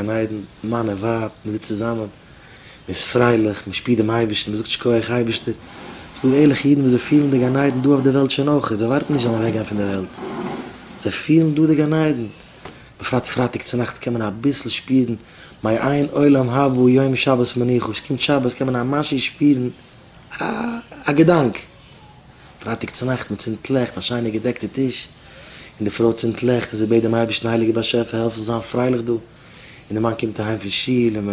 גן עדן, מאן און ווייב, מען זיצט צוזאמען, מען איז פרייליך, מען שפירט דעם אייבערשטן, מען זאגט שכוח אייבערשטער, ס'איז דא ערליכע אידן וואס זיי פילן די גן עדן דא אויף די וועלט שוין אויך, זיי ווארטן נישט זיי זאלן אוועק גיין פון די וועלט, זיי פילן דא די גן עדן, בפרט פרייטאג צו נאכט קען מען אביסל שפירן מיי איין עולם הבא יום שבת מנוחה, ס'קומט שבת קען מען א משהו שפירן א געדאנק. פרייטאג צונאכטס מען צינדט לעכט, א שיינע געדעקטע טיש, און די פרוי צינדט לעכט און זי בעט דעם אייבערשטן הייליגער באשעפער העלף זיך זיין פרייליך דא, און די מאן קומט אהיים פון שול און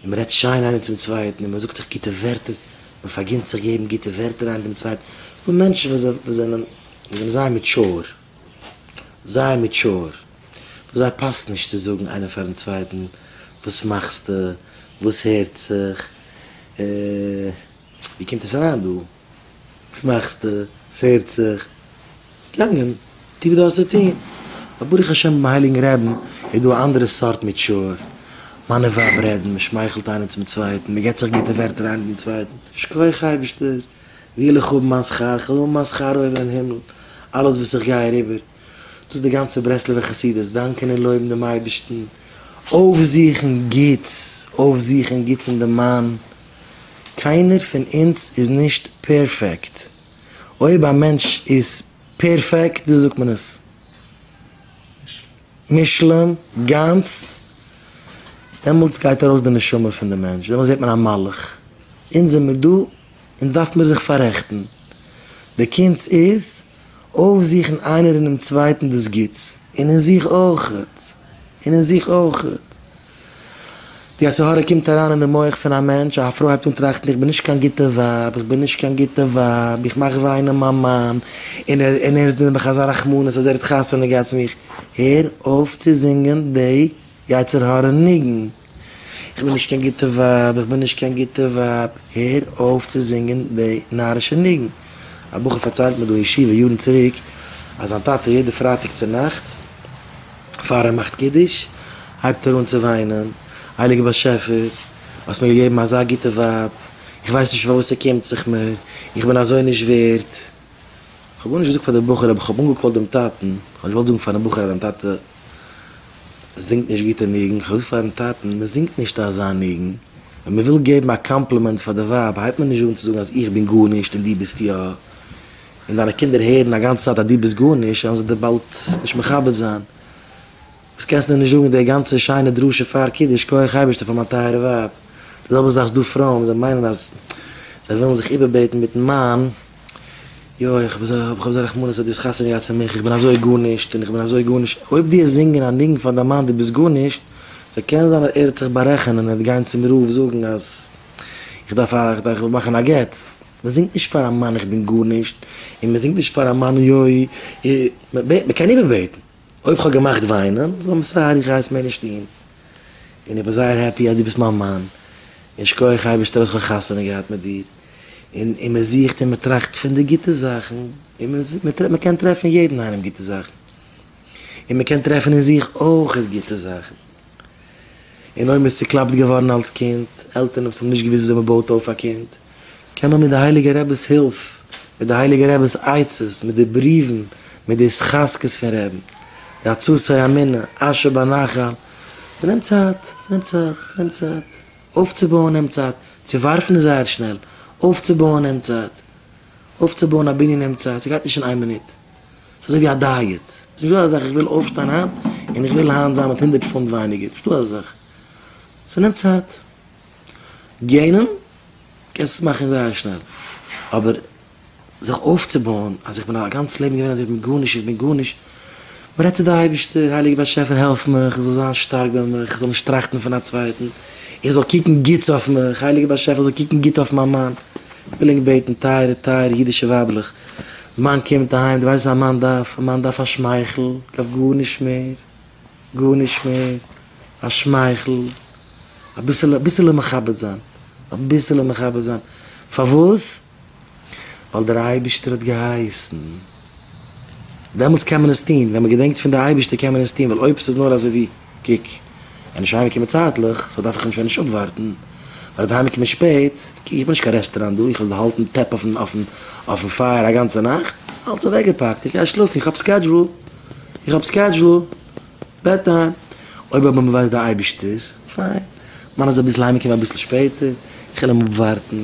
מען רעדט שיין איינער צום צווייטן און מען זאגט זיך גוטע ווערטער, מען פארגינט זיך געבן גוטע ווערטער איינער דעם צווייטן, דא מענטשן וואס זענען זייער מעטשור, זייער מעטשור, וואס זיי פאסט נישט צו זאגן איינער פארן צווייטן וואס מאכסטו, וואס הערט זיך. ווי קומט עס אריין דא? וואס מאכסטו? ס'הערט זיך געגאנגען, טו וואס דו האסט צו טון. אבער ברוך השם ביים הייליגן רעבן איז דא א אנדערע סארט מעטשור. מאן און ווייב רעדן, מען שמייכלט איינער צום צווייטן, מען געבט זיך גוטע ווערטער איינער דעם צווייטן, שכוח אייבערשטער, וויל איך האבן מיין שכר, כ'וויל האבן מיין שכר אויבן אין הימל, אלעס וואס איך גיי אריבער, דאס איז די גאנצע ברסלב'ע חסידות, דאנקען און לויבן דעם אייבערשטן, אויפזוכן גוטס, אויפזוכן גוטס אין דעם מאן, קיינער פון אונז איז נישט פערפעקט. אויב א מענטש איז פערפעקט, דאס זאגט מען עס מושלם, גאנץ, דעמאלטס גייט ארויס די נשמה פון די מענטש, דעמאלטס ווערט מען א מלאך. אונז זעמיר דא, אונז דארף מיר זיך פאררעכטן. די קונץ איז אויפזוכן איינער אינעם צווייטן דאס גוטס, און אין זיך אויכעט, און אין זיך אויכעט. די יצר הרע קומט אריין אין די מח פון א מענטש, א פרוי הייבט אן טראכטן, איך בין נישט קיין גוטע ווייב, איך בין נישט קיין גוטע ווייב, איך מאך וויינען מיין מאן, און ער, און ער איז נעבעך אזא רחמנות אז ער האט חתונה געהאט צו מיך. הער אויף צו זינגען די. יצר הרע ניגון, איך בין נישט קיין גוטע ווייב, איך בין נישט קיין גוטע ווייב, הער אויף צו זינגען די נארישע ניגון. א בחור פארציילט מיר דא אין ישיבה יארן צוריק, אז זיין טאטע יעדע פרייטאג צונאכטס פאר ער מאכט קידוש הייבט ער אן צו וויינען, הייליגער באשעפער, האסט מיר געגעבן אזא גוטע ווייב, איך ווייס נישט פארוואס ער קומט זיך מיר, איך בין אזוי נישט ווערד. כ'האב גארנישט געזאגט פאר די בחור, אבער כ'האב אנגעקאלט דעם טאטן, כ'האב נישט געוואלט זאגן פארן בחור אז זיין טאטע זינגט נישט גוטע ניגון, כ'האב געזאגט פארן טאטן, מען זינגט נישט אזא ניגון, ווען מען וויל געבן א קאמפלימענט פאר די ווייב הייבט מען נישט אן צו זאגן אז איך בין גארנישט און דו ביסט יא, און דיינע קינדער הערן א גאנצע צייט אז דו ביסט גארנישט וועלן זיי דיר באלד נישט מכבד זיין, וואס קענסט מיר נישט זאגן די גאנצע שיינע דרשה פאר קידוש, כח אייבערשטער פאר מיין טייערע ווייב, די זעלבע זאך איז דא פרויען וואס זיי מיינען אז זיי ווילן זיך איבערבעטן מיטן מאן, יוי, איך האב אזא רחמנות אז דו האסט חתונה געהאט צו מיך, איך בין אזוי גארנישט און איך בין אזוי גארנישט, אויב דו האסט זינגען א ניגון פאר דיין מאן דו ביסט גארנישט, סא קען זיין אז ער האט זיך בארעכענען ער וועט גיין צום רב זאגן אז איך דארף א איך וויל מאכן א גט, מען זינגט נישט פאר א מאן איך בין גארנישט, און מען זינגט נישט פאר א מאן יוי, מען קען איבערבעטן, אויב איך האב געמאכט וויינען, זאג אים סארי איך גיי עס מער נישט טון, און איך בין זייער העפי אז דו ביסט מיין מאן, און שכוח אייבערשטער אז איך האב חתונה געהאט מיט דיר. און און מען זוכט און מען טראכט פון די גוטע זאכן, און מען קען טרעפן אין יעדן איינעם גוטע זאכן, און מען קען טרעפן אין זיך אויכעט גוטע זאכן, און אויב מען איז צוקלאפט געווארן אלס קינד, עלטערן וואס האבן נישט געוואוסט וויאזוי מען בויט אויף א קינד, קען מען מיט די הייליגע רעבעס הילף, מיט די הייליגע רעבעס עצות, מיט די בריוון, מיט די התחזקות פון רעבן, די הצצי אמינא, אשר בנחל, ס'נעמט צייט, ס'נעמט צייט, ס'נעמט צייט. אויפצובויען נעמט צייט, צו ווארפן איז זייער שנעל, אויפצובויען נעמט צייט, אויפצובויען א בנין נעמט צייט, ס'גייט נישט אין איין מינוט, ס'איז אזוי ווי א דייעט, ס'איז נישטא אזא זאך איך וויל אויפשטיין היינט און איך וויל היינט זיין מיט הונדערט פונט ווייניגער, נישטא אזא זאך, ס'נעמט צייט, געינען קענסט עס מאכן זייער שנעל, אבער זיך אויפצובויען אז איך בין א גאנץ לעבן געווען אזוי איך בין גארנישט איך בין גארנישט, מען רעדט צו די אייבערשטער, הייליגער באשעפער העלף מיך איך זאל זיין שטארק ביי מיך, איך זאל נישט טראכטן פון א צווייטן, איך זאל קוקן גוטס אויף מיך, הייליגער באשעפער זאל קוקן גוט אויף מיין מאן, איך וויל ענק בעטן טייערע טייערע אידישע ווייבלעך, די מאן קומט אהיים, די ווייסט וואס א מאן דארף, א מאן דארף א שמייכל, דארף גארנישט מער, גארנישט מער, א שמייכל, אביסעלע אביסעלע מכבד זיין, אביסעלע מכבד זיין, פארוואס? ווייל דער אייבערשטער האט געהייסן. דעמאלטס קען מען עס טון, ווען מען געדענקט פון די אייבערשטער קען מען עס טון, ווייל אויב עס איז נאר אזוי ווי, קוק, ווען נישט אהיימקומען צייטליך, סאו דארף איך אים שוין נישט אפווארטן, ווייל ער וועט אהיימקומען שפעט, קוק איך בין נישט קיין רעסטעראנט דא, איך וועל האלטן טעפ אויפן פייער א גאנצע נאכט, אלץ אוועקגעפאקט, איך גיי שלאפן, איך האב סקעדזשול, איך האב סקעדזשול, בעד טיים, אויב אבער מען ווייסט די אייבערשטער, פיין, מיינען זיי אביסל אהיימקומען אביסל שפעטער, איך וועל אים אפווארטן.